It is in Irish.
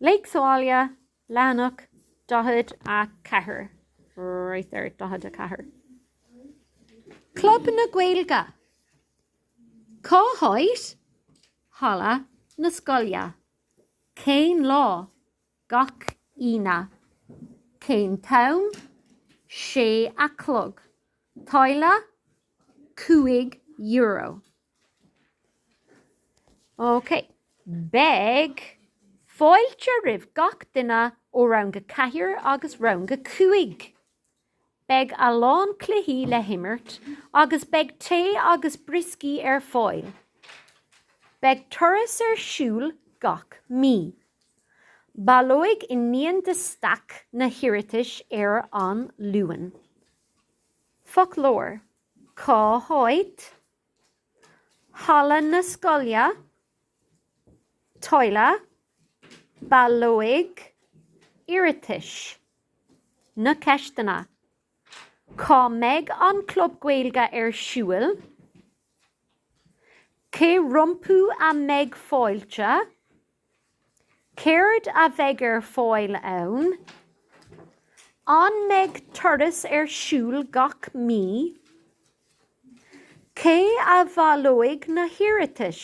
Léigh sa Bhaile, leathanach 44, right there, 44. Club na Gaeilge, Cá háit? Halla na Scoile, Cén lá? Gach Aoine. Cén t-am? Sé a chlog. Táille? Cúig euro. Ok, beidh fáilte roimh gach duine ó rang a ceathair agus rang a cúig. Beidh a lán cluichí le himirt agus beidh tae agus brioscaí ar fáil. Beidh turas ar siúl gach mí. Baileoidh Iníon de Staic na hiarratais ar an Luan. Foclóir. Cá háit? Halla na Scoile? Táille? Baileoidh? Iarratais? Na ceisteanna. Cá mbeidh an Club Gaeilge ar siúl? Cé rompu a mbeidh fáilte? Céard a bheidh ar fáil ann? An mbeidh turas ar siúl gach mí? Cé a bhaileoidh na hiarratais?